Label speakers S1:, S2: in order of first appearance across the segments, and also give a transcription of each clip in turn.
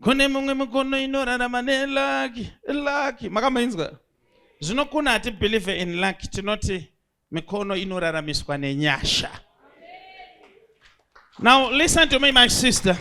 S1: kune mumwe mukono inorarama nelaki laki makamainzwa zvino kuna hatibelieve in laki tinoti mikono inoraramiswa nenyasha now listen to me my sister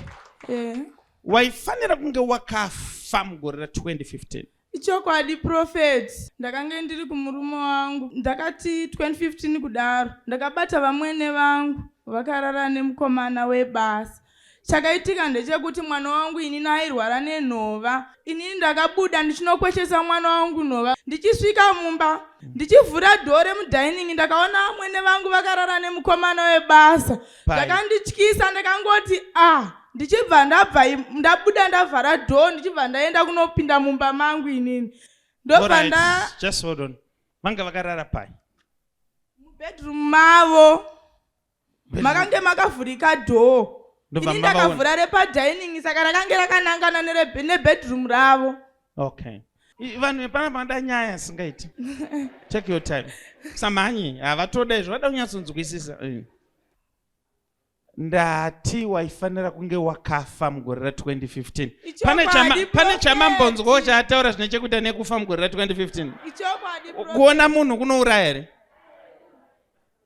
S1: yeah. waifanira kunge wakafa mugore ra 2015 Ichokwadi
S2: prophet ndakange ndiri kumurume wangu ndakati 2015 kudaro ndakabata vamwene vangu vakarara nemukomana webasa chakaitika ndechekuti mwana wangu inini airwara nenhova inini ndakabuda ndichinokweshesa mwana wangu nhova ndichisvika mumba ndichivhura dhoo remudining ndakaona vamwene vangu vakarara nemukomana webasa zvakandityisa ndakangoti ah ndichibva ndabva ndabuda ndavhara dho ndichibva ndaenda kunopinda mumba mangu inini ndobva nda just hold on
S1: vanga vakarara pai mubedroom
S2: mavo makange makavhurika dhoo ini ndakavhura repadining saka rakange rakanangana nebedroom ravo okay
S1: vanhu vepana vanoda nyaya asingaiti take your time samhanyi havatoda izvo vada kunyatsonzwisisa eh. ndati waifanira kunge wakafa mugore ra 2015 pane chamambonzwawo chaataura zvine chekuita nekufa mugore ra 2015 kuona munhu kunouraya here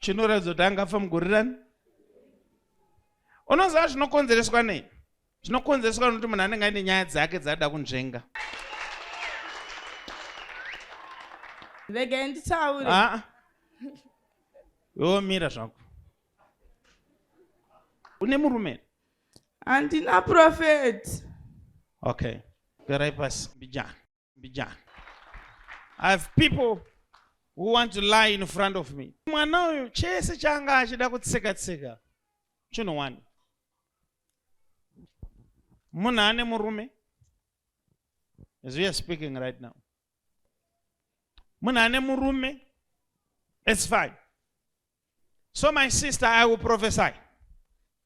S1: chinoratidza kuti anga afa mugore rani unoziva zvinokonzereswa nei zvinokonzereswa nokuti munhu anenge aine nyaya dzake dzaada kunzvenga
S2: regai nditaure ah.
S1: yomira zvako une murume handina
S2: profeti
S1: okay garai pasi mbijana mbijana i have people who want to lie in front of me mwana uyu chese changa achida kutseka tseka chinhu wani munhu ane murume as we are speaking right now munhu ane murume it's fine so my sister i will prophesy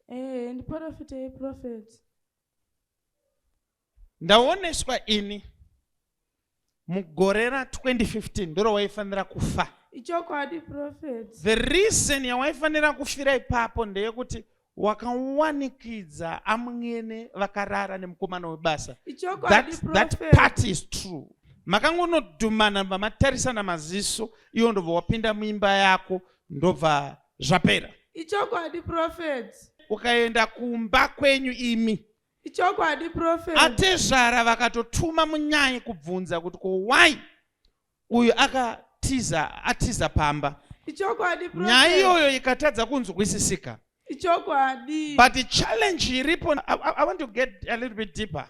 S1: eh
S2: ndiprofitei prophet
S1: ndaoneswa ini mugore ra 2015 ndiro waifanira kufa ichokwadi
S2: prophet the reason
S1: yawaifanira kufira ipapo ndeyekuti wakawanikidza amwene vakarara nemukomana webasa that part is true makangonodhumana vamatarisana maziso iwo ndobva wapinda muimba yako ndobva zvapera ichokwadi
S2: prophet ukaenda
S1: kumba kwenyu imi ichokwadi
S2: prophet atezvara
S1: vakatotuma munyai kubvunza kuti ko why uyu akatiza atiza pamba ichokwadi prophet
S2: nyaya iyoyo ikatadza
S1: kunzwisisika ichokwadi
S2: but the challenge
S1: iripo I, I, i want to get a little bit deeper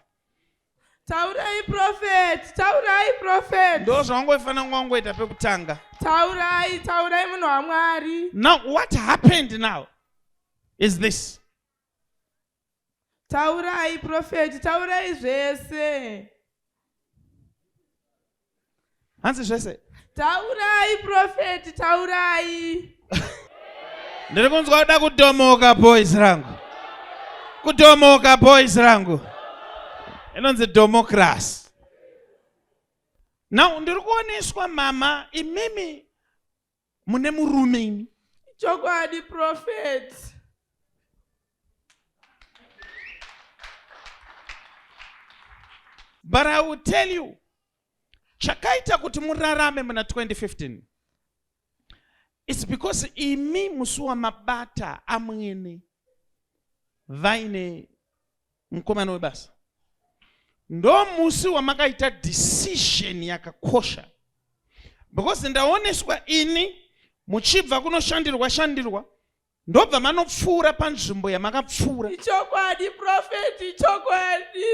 S1: taurai
S2: prophet taurai prophet ndo zvawangoifanira kunge
S1: wangoita pekutanga taurai
S2: taurai munhu wamwari now what
S1: happened now is this
S2: Taurai profeti, taurai zvese.
S1: Hanzi zvese. Taurai
S2: profeti, taurai.
S1: Ndiri kunzwa kuda kudomoka boys rangu. Kudomoka boys rangu. Inonzi democracy. Now ndiri kuoneswa mama imimi mune murume imi chokwadi
S2: prophet
S1: but i will tell you chakaita kuti murarame muna 2015 its because imi musi wamabata amwene vaine mukomana webasa ndo musi wamakaita decision yakakosha because ndaoneswa ini muchibva kunoshandirwa shandirwa ndobva manopfuura panzvimbo yamakapfuura ichokwadi
S2: profeti ichokwadi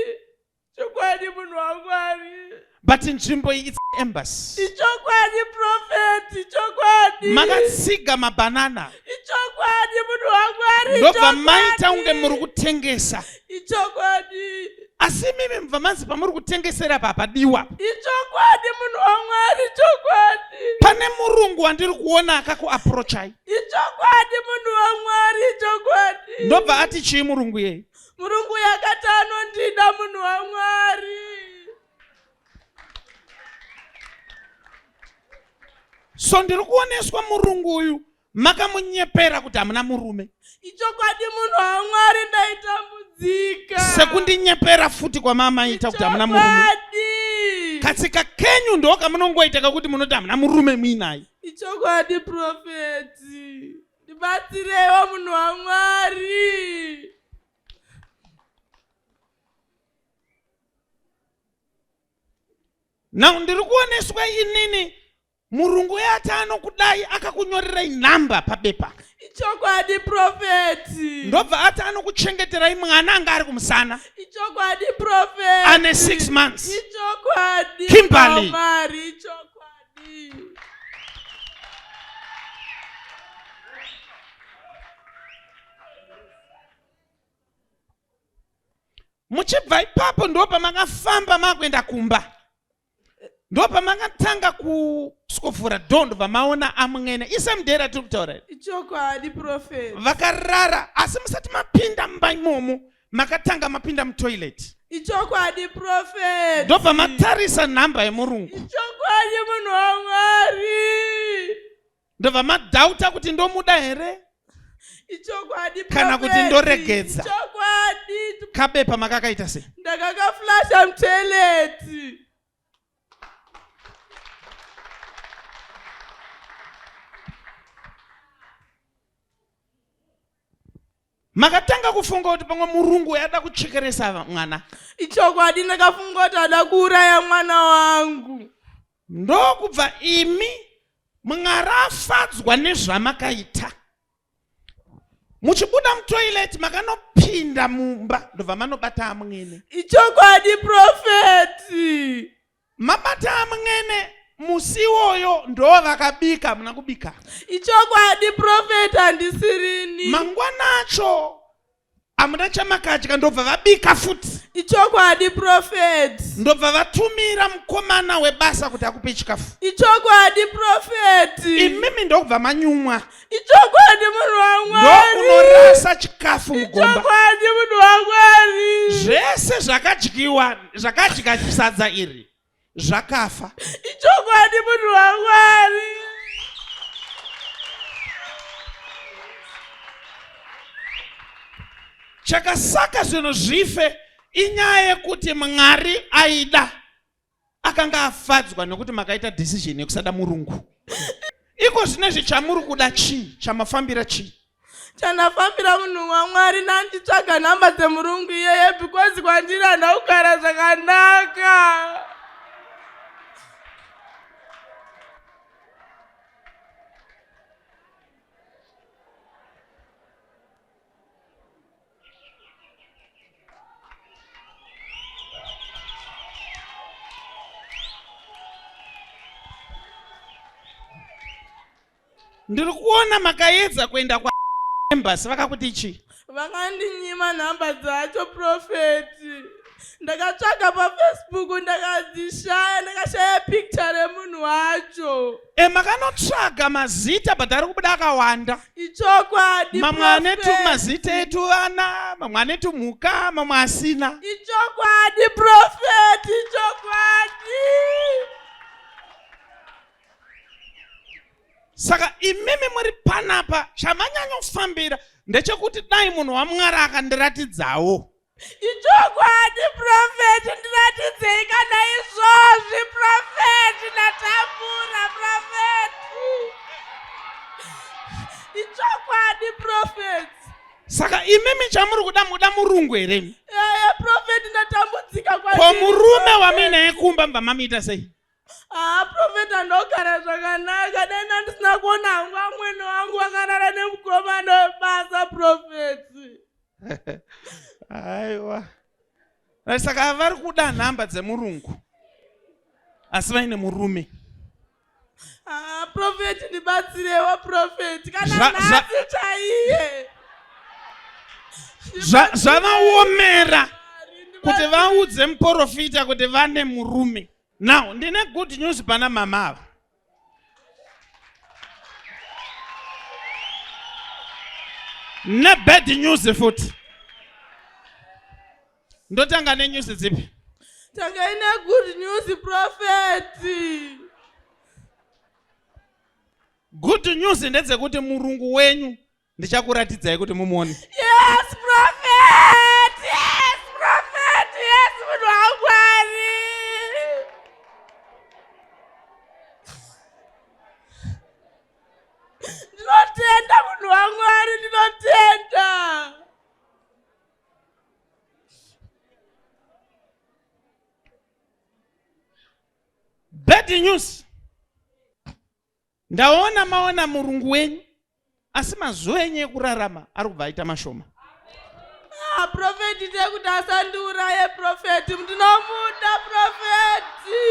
S2: chokwadi munhu wamwari but nzvimbo
S1: iyi its embassy ichokwadi
S2: prophet ichokwadi makatsiga
S1: mabanana ichokwadi
S2: munhu wamwari ndobva maita
S1: kunge muri kutengesa ichokwadi
S2: asi imimi
S1: mubva manzi pamuri kutengesera papadiwa ichokwadi
S2: munhu wamwari ichokwadi pane murungu
S1: wandiri
S2: kuona
S1: akakuaprochai ichokwadi
S2: munhu
S1: wamwari ichokwadi ndobva ati chii murungu yei murungu uyu akati
S2: anondida munhu wamwari
S1: so ndiri kuoneswa murungu uyu makamunyepera kuti hamuna murume ichokwadi
S2: munhu wamwari ndaitambudzika sekundinyepera
S1: futi kwamamaita kuti hamuna murume katsika kenyu ndo kamunongoita kakuti munoti hamuna murume muinayi ichokwadi
S2: profeti ndibatsirewo munhu wamwari
S1: now ndiri kuoneswa inini murungu uye ati anokudai akakunyorerai nhamba pabepa ichokwadi
S2: profeti ndobva ati
S1: anokuchengeterai mwana anga ari kumusana ichokwadi
S2: profeti ane six months
S1: ichokwadi
S2: Kimberly. Mwari,
S1: ichokwadi muchibva ipapo ndo pamakafamba makuenda kumba ndo pamakatanga kuswofura do ndobva maona amwene isemdera tiri kutaura ichokwadi
S2: profet vakarara asi
S1: musati mapinda mumba imomo makatanga mapinda mutoilet ichokwadi
S2: profet ndobva matarisa
S1: nhamba yemurungu ichokwadi munhu
S2: wamwari ndobva
S1: madhauta kuti ndomuda here ichokwadi
S2: kana kuti ndoregedza
S1: ichokwadi
S2: kabepa makakaita
S1: sei ndakakaflasha
S2: mutoilet
S1: makatanga kufunga kuti pamwe murungu wayada kuchekeresa mwana ichokwadi
S2: ndakafunga kuti ada kuuraya mwana wangu ndokubva
S1: imi mwari afadzwa nezvamakaita muchibuda mutoilet makanopinda mumba ndobva manobata amwene ichokwadi
S2: profeti mabata
S1: amwene musi iwoyo ndo vakabika muna kubika ichokwadi
S2: profeti handisirini mangwana acho
S1: hamuna chamakadya ndobva vabika futi ichokwadi
S2: profet ndobva vatumira
S1: mukomana webasa kuti akupe chikafu ichokwadi
S2: profet imimi ndokubva
S1: manyumwa ichokwadi
S2: munhu wamwariunorasa
S1: chikafu mugombachokwadi munhu
S2: wamwari zvese
S1: zvakadyiwa zvakadya sadza iri zvakafa ichokwadi
S2: munhu wamwari
S1: chakasaka zvinhu zvife inyaya yekuti mwari aida akanga afadzwa nekuti makaita decision yekusada murungu iko zvine zvichamuri kuda chii chamafambira chii chandafambira
S2: munhu wamwari nanditsvaga nhamba dzemurungu iyeye because kwandiri handa kugara zvakanaka
S1: Ndiri kuona makaedza kuenda kwa embassy vakakuti chii? Vakandinyima
S2: nhamba dzacho profeti. Ndakatsvaga pafacebook ndakadzishaya ndakashaya picture remunhu wacho. E makanotsvaga
S1: mazita but ari kubuda akawanda. Ichokwadi.
S2: Mamwe ane
S1: tumazita etu vana, mamwe ane tumhuka, mamwe asina. Ichokwadi
S2: profeti, ichokwadi.
S1: saka imimi muri panapa chamanyanyofambira ndechekuti dai munhu wamwari akandiratidzawo ichokwadi
S2: profeti ndiratidzei kana izvozvi profeti ndatambura profeti ichokwadi profeti saka
S1: imimi chamuri kuda muda murungu here profeti
S2: ndatambudzika ko murume
S1: wamuinaye kumba mva mamiita sei Haa ah, profeta
S2: ndogara zvakanaka dai ndandisina kuona hangu amwene wangu wakarara nemukomana webasa profeti
S1: aiwa right saka vari kuda nhamba dzemurungu asi vaine murume ah,
S2: profeti ndibatsirewo profeti kana nhasi chaiye
S1: zvavaomera kuti vaudze muporofita kuti vane murume now ndine good news pana mama ava nebad news futi ndotanga nenews dzipi tangai
S2: negood news profeti
S1: good news ndedzekuti murungu wenyu ndichakuratidzai kuti mumuone yes
S2: prophet yes prophet yes munhu wangwari ndinotenda munhu wangwari ndinotenda
S1: bad news ndaona maona murungu wenyu asi mazuva enyu ekurarama ari kubva aita mashoma ah,
S2: profeti tekuti asandiuraye profeti ndinomuda profeti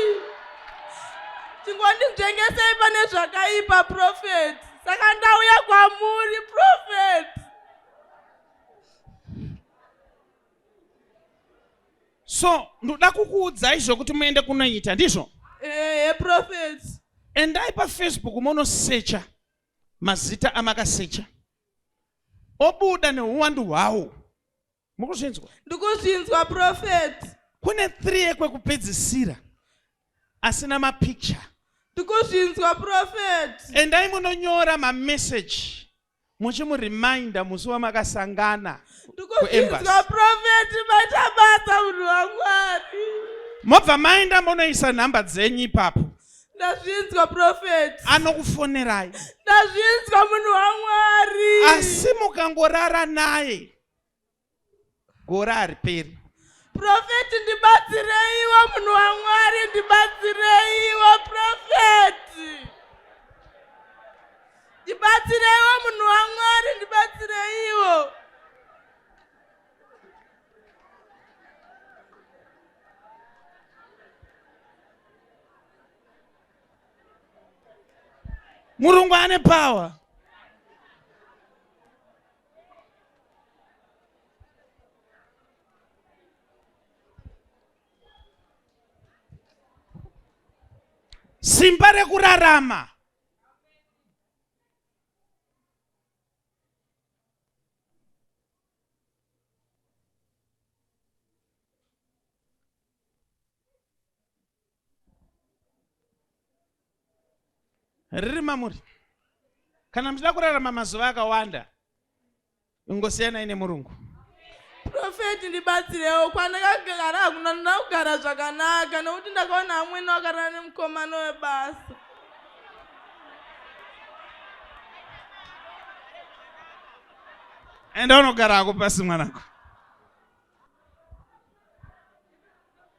S2: chingonditengesei pane zvakaipa profeti saka ndauya kwamuri profeti
S1: so ndoda kukuudzai zvokuti muende kunoita ndizvo ehe prophet
S2: endai
S1: pafacebook monosecha mazita amakasecha obuda neuwandu hwawo mukuzvinzwa ndikuzvinzwa
S2: prophet kune three
S1: ekwekupedzisira asina mapicture ndikuzvinzwa
S2: prophet endai munonyora
S1: mameseji muchimu reminder musi wamakasangana kuembassy
S2: prophet maita basa munhu wamwari mobva
S1: maenda monoisa nhamba dzenyu ipapo ndazvinzwa
S2: prophet anokufonerai
S1: ndazvinzwa
S2: munhu wamwari asi
S1: mukangorara naye gore hariperi profeti
S2: ndibatsireiwo munhu wamwari ndibatsireiwo profeti ndibatsireiwo munhu wamwari ndibatsireiwo
S1: murungu ane power simba rekurarama riri mamuri kana muchida kurarama mazuva akawanda ingosiyanai nemurungu profeti
S2: ndibatsirewo kwandakagara hakuna ndoda kugara zvakanaka nokuti ndakaona amwene wakarana nemukomano webasa
S1: enda unogara hako pasi mwanako